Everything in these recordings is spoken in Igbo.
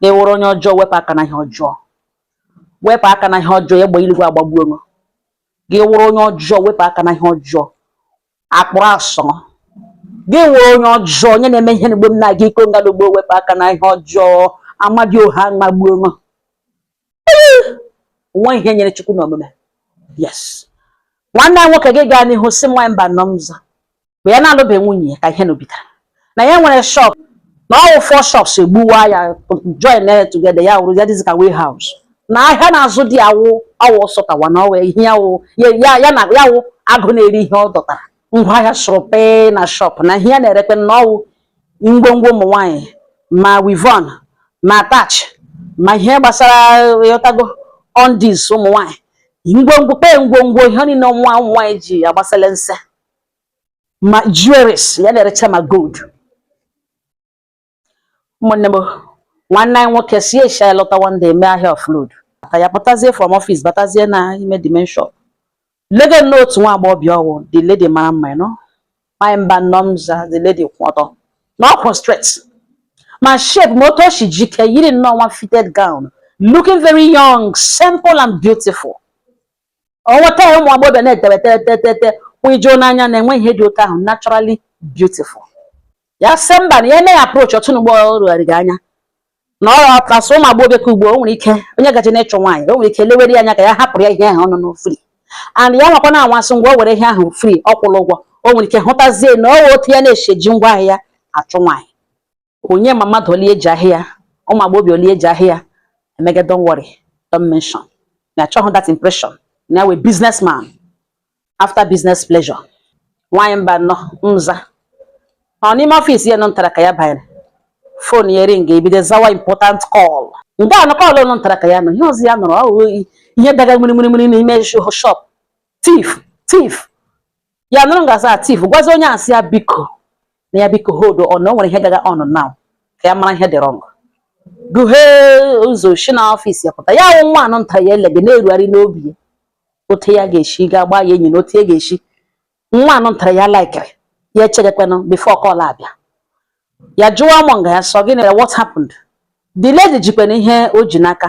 gị wụrụ onye ọjọọ wepụ aka na ihe ọjọọ wepụ aka na ihe ọjọọ egbe iligwe agbagbuo m gị wụrụ onye ọjọọ wepụ aka na ihe ọjọọ akpụrụ asọ gị wụrụ onye ọjọọ onye na-eme ihe n'ugbo m na-aga iko ngalugbo wepụ aka na ihe ọjọọ amadiọha amagbuo m nwa ihe nyere chukwu na omume yes nwanne anyị nwoke gị gaa n'ihu sị nwaanyị mbanọ m za mgbe ya na-alụbeghị nwunye ya ka ihe nụ bidoro na ya nwere shop na ọ wụ four shops e gbuwaa ya join ya together ya wụrụ ya dịzi ka warehouse na ahịa na-azụ dị awụ awụ sọtawa na ọ wụ ihe ya wụ ya na ya wụ agụ na-eri ihe ọ dọtara ngwa ahịa sụrụ pe na shop na ihe ya na-erekwe na ọ wụ ngwongwo ụmụ nwaanyị ma weavon ma attach ma ihe gbasara ị ghọtago undies ụmụ nwaanyị ngwongwo kpee ngwongwo ihe niile nwa ụmụ nwaanyị ji agbasala nse ma jewelries ya na-erecha ma gold ụmụnne m nwanne anyị nwoke si asia lọta one day mee ahịa offload ka ya pụtazie from office batazie na ime the main shop lege nnọọ otu nwa agbọghọbịa ọ wụ the lady mara mma nnọọ nwaanyị mbanọ m za the lady kwụ ọtọ na ọ kwụ straight ma shape ma otu o si jike yiri nnọọ nwa fitted gown looking very young simple and beautiful ọnwata ya ụmụ agbọghọbịa na-etewe tetetete kwụ ijoo n'anya na-enwe ihe dị otu ahụ naturally beautiful ya sị mba na ya emeghị approach ọtụ n'ugbo rugharị gị anya na ọ ọtasị ụmụ agbọghọbịa ka ugbo o nwere ike onye gaje n'ịchụ nwaanyị o nwere ike lewere ya anya ka ya hapụrụ ya ihe ahụ ọnụ nụ free and ya nwakwa na-anwa sị ngwa o were ihe ahụ free ọ kwụrụ ụgwọ o nwere ike hụtazie na ọ otu ya na-eshi eji ngwa ahịa achụ nwaanyị onye ma mmadụ ole e ji ahịa ụmụ agbọghọbịa ole e ji ahịa emege don't worry don't mention na achọghị that impression na ya wụ businessman after business pleasure nwaanyị mbanọ m za ọ n'ime ọfịs ya nụ ntara ka ya banyere phone ya ring ebido zawa important call nke a na call nụ ntara ka ya nọ ihe ọzọ ya nụrụ ọ ihe daga mmiri mmiri n'ime shop thief thief ya nụrụ nga a sị thief gwazi onye a sị ya biko na ya biko hold on na o nwere ihe gaga on now ka ya mara ihe dị wrong guhee ụzọ shi na ọfịs ya pụta ya wụ nwa nụ ntara ya elege na-erogharị n'obi ya otu ya ga-esi ga gbaa ya enyi na otu ya ga-esi nwa nụ ntara ya laikiri ya echegekwenụ before call abịa ya jụwa mọnga ya sị ọ gịnị what happened the lady jikwana ihe o ji n'aka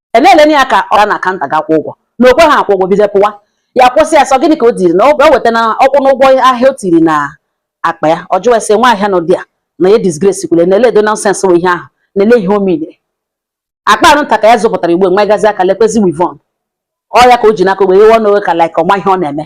eleleni ya ka ọ ga na counter ga kwụ ụgwọ na o kwehe akwụ ụgwọ bido pụwa ya kwụsị ya sị ọ gịnị ka o tiri na o weta na ọ kwụ n'ụgwọ ahịa o tiri na akpa ya ọ jụwa ase nwa ahịa na ụdị a na ya disgrace kwule na eledo nonsense bụ ihe ahụ na ele ihe o mere akpa nụ nta ka ya zụpụtara igbo nwa gazi aka lekwezi weavon ọ ya ka o ji n'aka wee yewe ọnụ ka like ọ ma ihe ọ na-eme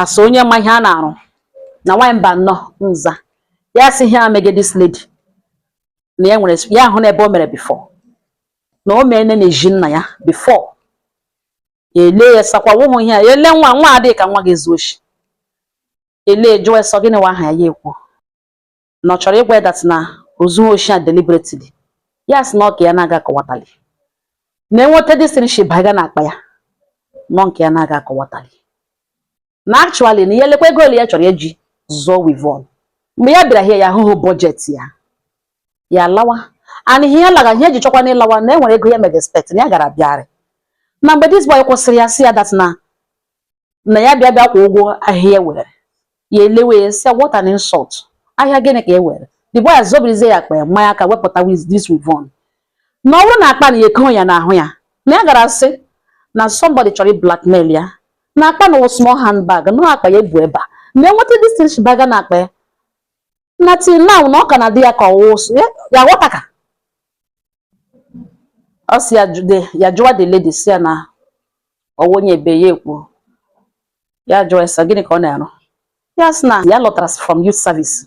asị onye ma ihe a na-arụ na nwaanyị mba nnọọ nza ya sị ihe a mege this lady na ya nwere ya ahụna ebe o mere before na o meene n'ezi nna ya before ya ele ya sakwa wụhụ ihe a ya ele nwa nwa adịghị ka nwa ga-ezu oshi ele jụọ sị ọ gịnị wụ aha ya ya ekwu na ọ chọrọ ịgwa ya that na o zuhu oshi a deliberately ya sị na ọka ya na-aga akọwatali na enweta this thing shi baga na akpa ya na ọ nke ya na-aga akọwatali na actually na ihe lekwa ego ole ya chọrọ eji zụọ weavon mgbe ya bịara here ya ahụhụ budget ya ya lawa and ihe ya laga ihe eji chọkwa na ịlawa na enwere ego ya mega expect na ya gara bịarị na mgbe this boy kwụsịrị ya sị ya that na na ya bịa bịa kwụọ ụgwọ ahịa e were ya elewe ya sị what an insult ahịa gịnị ka e were the boy azọbirizie ya akpa ya manye aka wepụta with this weavon na ọ wụrụ na akpa na eko ya n'ahụ ya na ya gara sị na somebody chọrọ blackmail ya na akpa na wụ small handbag na akpa ya ebu ebe a na enweta this thing shi baga na akpa ya na till now na ọ ka na-adị ya ka ọwụwa ụsụ ya ya ghọta ka ọ si ya jụ- the- ya jụwa the lady sị ya na ọ wụ onye ebe ya ekwu ya jụọ ya sị gịnị ka ọ na-arụ ya sị na ya lọtara from youth service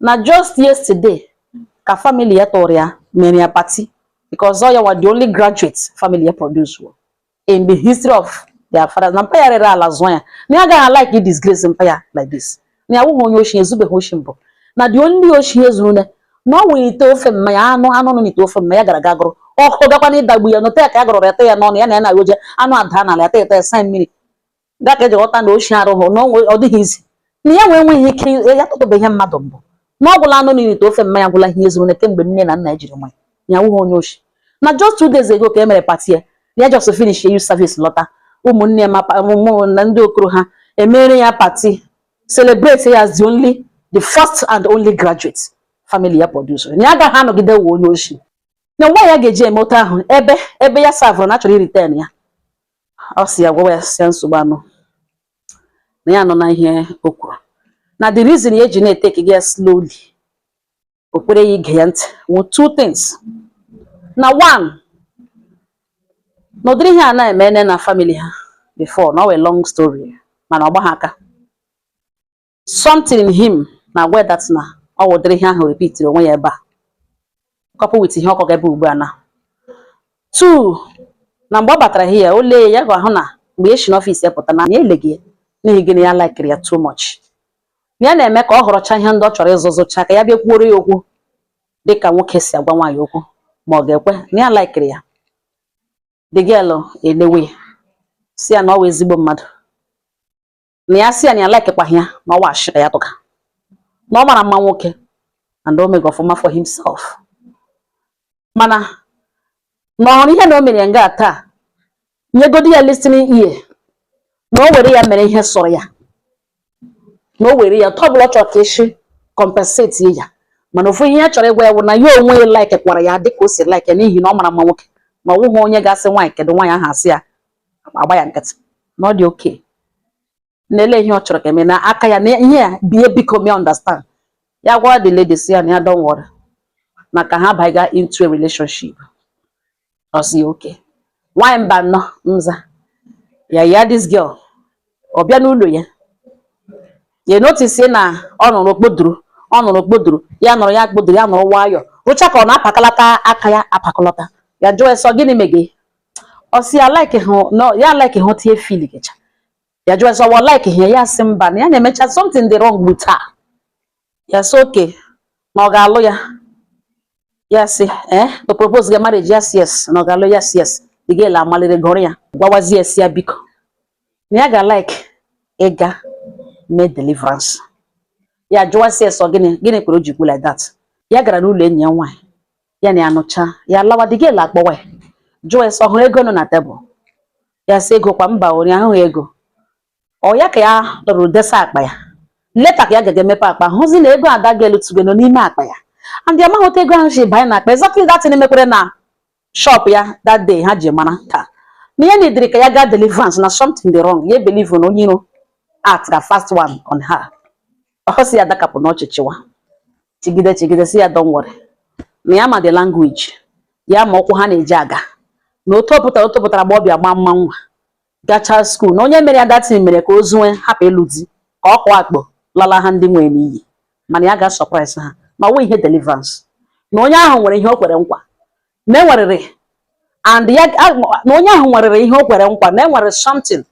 na just yesterday ka family ya tụrụ ya mere ya party because ọ ya wụ the only graduate family ya produce wo in the history of their fathers na mpa ya rere ala zụọ ya na ya agaghị alike i disgrace mpa ya like this na ya wụghị onye oshi ezubeghị oshi mbụ na the only oshi ezuru ne na ọ wụrụ ite ofe mma ya anụ anụ nọ n'ite ofe mma ya gara ga gụrụ ọkụ gakwa na-adagbu ya nọta ya ka ya gụrụ ya te ya n'ọnụ ya na ya na-agoje anụ ada n'ala ya ta eta ya mmiri ga ka eji ghọta na oshi ra ahụ na ọ dịghị easy na ya nwee nweghị ike ya tụtụbeghị ihe mmadụ mbụ na ọ gwụla anụ n'ite ofe mma ya gwụla ihe zuru na kemgbe nne na nna jiri mụọ ya ya wụghị onye oshi na just two days ago ka e mere party ya ya just finish ya youth service lọta ụmụnne ma na ndị okoro ha emere ya party celebrate ya as the only the first and only graduate family ya producere na ya agaghị anọgide wụ onye oshi na nwa ya ga-eji eme otu ahụ ebe ebe ya savụrụ na a chọrọ ịretain ya ọ sị ya gwawa ya sị ya nsogbu anọhụ na ya anụna ihe o kwuru na the reason ya eji na-eteki gị ya slowly o kwere ya ige ya ntị wụ two things na one na ụdịrị ihe a na emeene na family ha before na ọ wụ long story mana ọ gbaghị aka Something in him na-agwa ya that na ọ wụ ụdịrị ihe ahụ repitiri onwe ya ebe a coupled with ihe ọ kọga ebe ugbu a na two na mgbe ọ batara here o lee ya ga-ahụ na mgbe e si n'ọfịs ya pụta na ya eleghị ya n'ihi gịnị ya laikiri ya too much ya na-eme ka ọ họrọcha ihe ndị ọ chọrọ ịzụ zụcha ka ya bịa kwuoro ya okwu dịka nwoke si agwa nwaanyị okwu ma ọ ga-ekwe na ya laikiri ya the girl elewe ya sị ya na ọ wụ ezigbo mmadụ na ya sị ya na ya likekwaghị ya na ọ wụ ashị ka ya tụga na ọ mara mma nwoke and o mega ọfụma for himself mana na ọ hụrụ ihe na o mere ya nga taa nyegodi ya listening ear na o were ya mere ihe sọrọ ya na o were ya otu ọbụla ọ chọrọ ka e shi compensate ya mana ofu ihe ya chọrọ ịgwa ya bụ na ya onwe ya like kwara ya dịka o si like ya n'ihi na ọ mara mma nwoke ma ọ wụghị onye ga-asị nwaanyị kedu nwaanyị ahụ asị ya agba ya nkịtị na ọ dị okay na-ele ihe ọ chọrọ ka e mee na aka ya na ihe ya bie biko me understand ya gwa the lady sị ya na ya don't worry na ka ha baiga into a relationship ọ sị okay nwanyị mba nnọọ nza ya ya this girl ọ bịa n'ụlọ ya ya notice na ọ nọrọ o kpodoro ọ nọrọ o kpodoro ya nọrọ ya kpodoro ya nọrọ nwayọọ rụcha ka ọ na-apakalata aka ya apakalata ya jụọ sị ọ gịnị mege ọ sị ya like how no ya like how tie feel gịcha ya jụọ sị ọ wụ like how ya sị mba na ya na-emecha something dị wrong with her ya sị okay na ọ ga-alụ ya ya sị eh to propose ga marriage yes yes na ọ ga-alụ yes yes the girl amalire gụrụ ya gwawazie sị ya biko na ya ga like ịga mee deliverance ya jụwa sị ya sị ọ gịnị gịnị kwere o ji kwu like that ya gara n'ụlọ enyi ya nwaanyị ya na ya nọcha ya lawa the girl akpọwa ya jụọ ya sị ọ hụrụ ego nọ na tebụl ya sị ego kwa mba ori ahụghị ego ọ ya ka ya dọrọ desa akpa ya later ka ya ga-emepe akpa hụzi na ego a the girl tụga nọ n'ime akpa ya and ya amaghị otu ego ahụ si banye na akpa exactly that thing mekwere na shop ya that day ha ji mara ka na ya needịrị ka ya gaa deliverance na something dị wrong ya ebelieve na onye iro had a fast one on her ọ sị ya dakapụ n'ọchị chịwa chịgide chịgide sị ya don't worry na ya ma the language ya ma ụkwụ ha na-eji aga na otu ọ pụtara otu pụtara gba ọbịa gbaa mma nwa gacha school na onye mere ya that thing mere ka o zuwe hapụ ịlụ di ka ọ kụọ akpọ lala ha ndị nwere n'iyi mana ya ga-asurprise ha ma ọ wụ ihe deliverance na onye ahụ nwere ihe o kwere nkwa na enwerịrị and ya na onye ahụ nwerịrị ihe o kwere nkwa na enwere something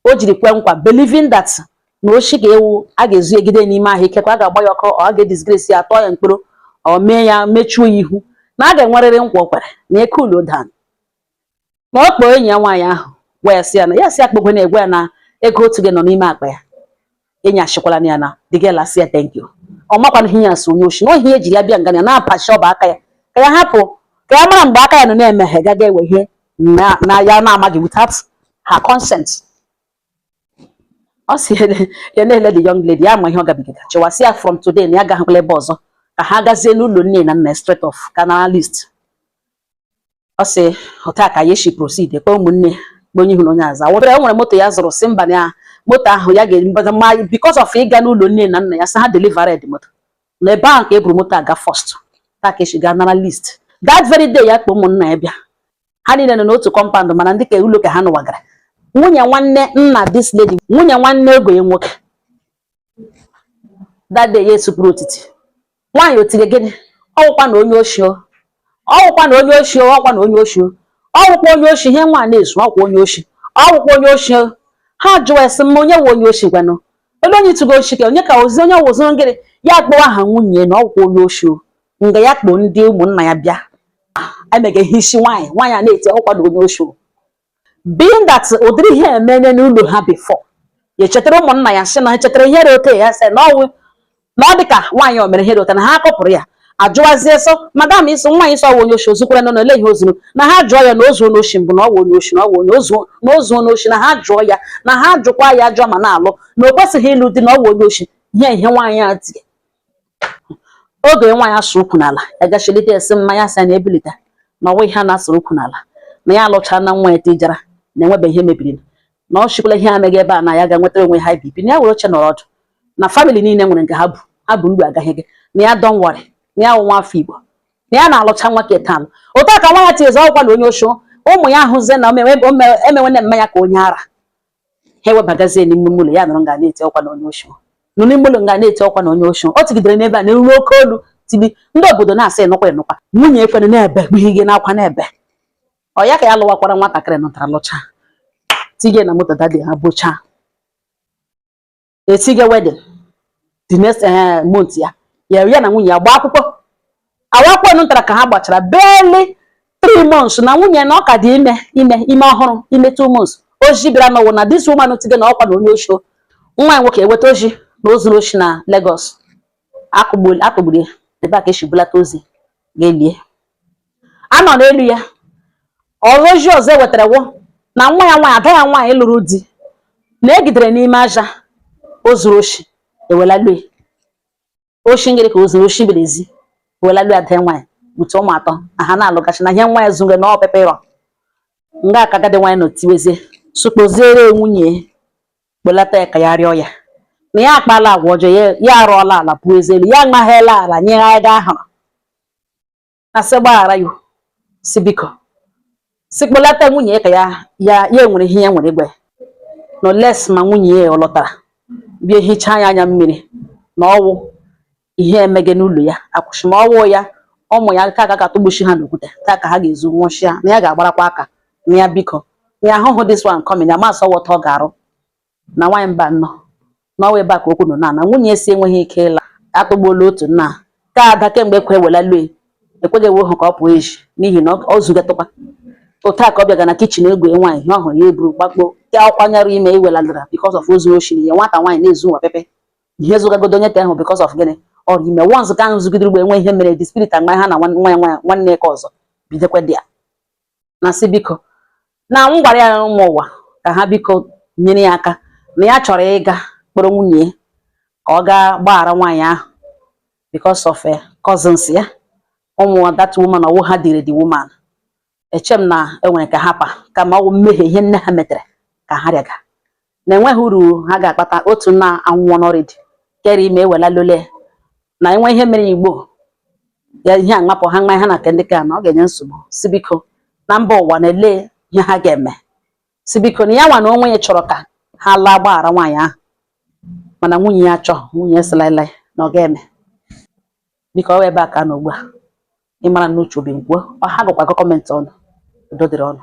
o jiri kwe nkwa believing that na oshi ga-ewu a ga-ezu ejide n'ime ahụ ikekwa a ga-agba ya ọkụ a ga-edisgrace ya tụọ ya mkpọrọ o mee ya mechuo ya ihu na a ga-enwerịrị nkwa o kwere na eke ulo dan na ọ kpọọ enyi ya nwaanyị ahụ wee sị ya na ya si akpọkwa na-agwa ya na ego ọ tụga nọ n'ime akpa ya enyi achịkwala na ya na the girl asị ya thank you ọ makwa na ihe ya so onye oshi na ihe e ji ya bịa nga ya na-apachi ọbọ aka ya ka ya hapụ ka ya mara mgbe aka ya nọ na-emeghe gaga ewe ihe na ya na-amaghị without her consent ọ sị ya na-ele the young lady ya ma ihe ọ gabigara chịwa sị ya from today na ya gaghịkwala ebe ọzọ ka ha gazie n'ụlọ nne na nna straight off ga-ana list ọ sị otu a ka ya si proceed kpọ ụmụnne kpọ onye ihu na onye azụ awụbere nwere moto ya zụrụ si mba na moto ahụ ya ga-emebata ma because of ịga n'ụlọ nne na nna ya sị ha delivered moto n'ebe ahụ ka e buru moto aga first otu a ka e si gaa nara list that very day ya kpọ ụmụnna ya bịa ha niile nọ n'otu compound mana ndị ka ụlọ ka ha nụwagara nwunye nwanne nna this lady nwunye nwanne ọgọ ya nwoke dade ya esupụrụ otiti nwaanyị otire gịnị ọwụkwa na onye ochie ọwụkwa na onye ochie ọkwa na onye ochie ọwụkwa onye ochie ihe nwa na-ezu ọkwa onye ochie ọwụkwa onye ochie ha jụọ esi mma onye nwe onye ochie gwanụ ebe onye tụgo ochie ka onye ka ozi onye wụzụrụ ngịrị ya kpọwa aha nwunye na ọwụkwa onye ochie nga ya kpọọ ndị ụmụnna ya bịa emeghị ihe isi nwaanyị nwaanyị a na-eti ọkwa na onye ochie being that ụdịrị ihe emenye n'ụlọ ha before ya echetara ụmụnna ya sị na ha chetara ihe dị otu a ya sị na ọ wụ na ọ dị ka nwaanyị o mere ihe dị otu a na ha akpọpụrụ ya ajụwazie sọ madam ị sị nwaanyị sọ ọ wụ onye oshi o zukwara nọ n'ole ihe o zuru na ha jụọ ya na ozu onye oshi mbụ na ọ wụ onye oshi na ọ wụ onye ozu na ozu onye oshi na ha jụọ ya na ha jụkwa ya jụọ ma na-alụ na o kwesịghị ịlụ di na ọ wụ onye oshi ihe ihe nwaanyị a tie oge nwa ya sụ ukwu n'ala ya gachilite ya sị mma ya sị ya na ebilite na ọ wụ ihe a na-asụrụ ukwu n'ala na ya alụchaa na nwa ya tijara na enwebe ihe mebiri na ọ chịkwala ihe ameghị ebe a na ya ga nwetara onwe ha bibi na ya were oche nọrọ ọdụ na family niile nwere nke ha bụ ha bụ mgbe agaghị gị na ya don't worry na ya wụ nwa afọ igbo na ya na-alụcha nwa keta alụ otu a ka nwaanyị a tiezi ọ wụkwa na onye oshi ụmụ ya ahụzie na emewe nne mma ya ka onye ara ha ewebagazie n'ime ụlọ ya nọrọ nga na-eti ọ wụkwa na onye oshi nọ n'ime ụlọ nga na-eti ọ wụkwa na onye oshi o tigidere n'ebe a na-eru oke olu tibi ndị obodo na-asị ị nụkwa ị nụkwa nwunye ekwere na-ebe kpughị gị n'akwa na-ebe ọ ya ka ya lụwakwara nwatakịrị nụtara lụcha tige na moto that day ha bụcha etige wedding the next eh, month ya ya ya na nwunye ya gbaa akwụkwọ agba akwụkwọ nụ tara ka ha gbachara barely three months na nwunye na ọ ka dị ime ime ime ọhụrụ ime two months ozi bịara na ọ wụ na this woman tige na ọkwa na onye oshi nwa ya nwoke eweta ozi na o zuru oshi na Lagos a kụgburu ya ebe a ka e si bulata ozu ga-elie a nọ n'elu ya ọzọ ozi ọzọ e wetara wụ na nwa ya nwaanyị ada ya nwaanyị lụrụ di na e jidere n'ime ahịa o zuru oshi ewela lue oshi ngịrị ka o zuru oshi brassiere ewela lue ada ya nwaanyị bute ụmụ atọ na ha na-alụgachi na ihe nwa ya zuru na ọpepe ịrọ nga a ka agadi nwaanyị nọ tiwezie sị kpọziere nwunye kpọlata ya ka ya rịọ ya na ya akpaala agwa ọjọọ ya arụọla ala pụọ ezi elu ya amaghịla ala nye ya ga ahụrụ a sị gbaghara ya sị biko sị kpọlata nwunye ya ka ya enwere ihe ya nwere ike ime unless ma nwunye ya ọ lọtara bịa hichaa ya anya mmiri na ọ wụ ihe emege n'ụlọ ya akwụsị ma ọ wụ ya ụmụ ya ka a ga-atụgbuchi ha n'okwute taa ka ha ga-ezu nwụchịa na ya ga-agbarakwa aka na ya biko na ya ahụhụ this one coming ya ma a sị ọ wụ taa ọ ga-arụ na nwaanyị mba nọ na ọ wụ ebe a ka okwu nọ na nwunye ya sị enweghị ike ịla atụgbuola otu nna ka ada kemgbe ekwe wela lue ekweghị ewe hụ ka ọ pụọ eji n'ihi na ọ zugatụkwa otu a ka ọ bịaga na kitchen egwe nwaanyị ihe ọ hụrụ ya eburu gbakpo ya ọ kwanyere ime iweladara because of ozu oshi ya nwata nwaanyị na-ezu nwa pepe ihe zụgagodo onye te ahụ because of gịnị ọ rụ ime once ka ahụ zugidere ugbo enwe ihe mere the spirit agba ha na nwa ya nwanne ke ọzọ bidokwa di ya na sị biko na m gwara ya ụmụ ụwa ka ha biko nyere ya aka na ya chọrọ ịga kpọrọ nwunye ya ka ọ gaa gbaghara nwaanyị ahụ because of eh, cousins ya ụmụ that woman ọ wụ ha dịrị the woman eche m na e nwere ike hapụ ya kama ọ wụ mmehie ihe nne ha metere ka ha rịaga na enweghị uru ha ga-akpata otu na anwụọna already kere ime ewela lole na enwe ihe mere igbo ya ihe aṅapụ ha nwa ha na ndị ka na ọ ga-enye nsogbu sị biko na mba ụwa na-ele ihe ha ga-eme sị biko na ya nwa na onwe ya chọrọ ka ha laa gbaghara nwaanyị ahụ mana nwunye ya chọọ nwunye ya sị laị laị na ọ ga-eme biko ọ ebe a ka nọ ugbu a ịmara na uche obi ngwuo ọ ga-agụkwa comment unu udo dịrị unu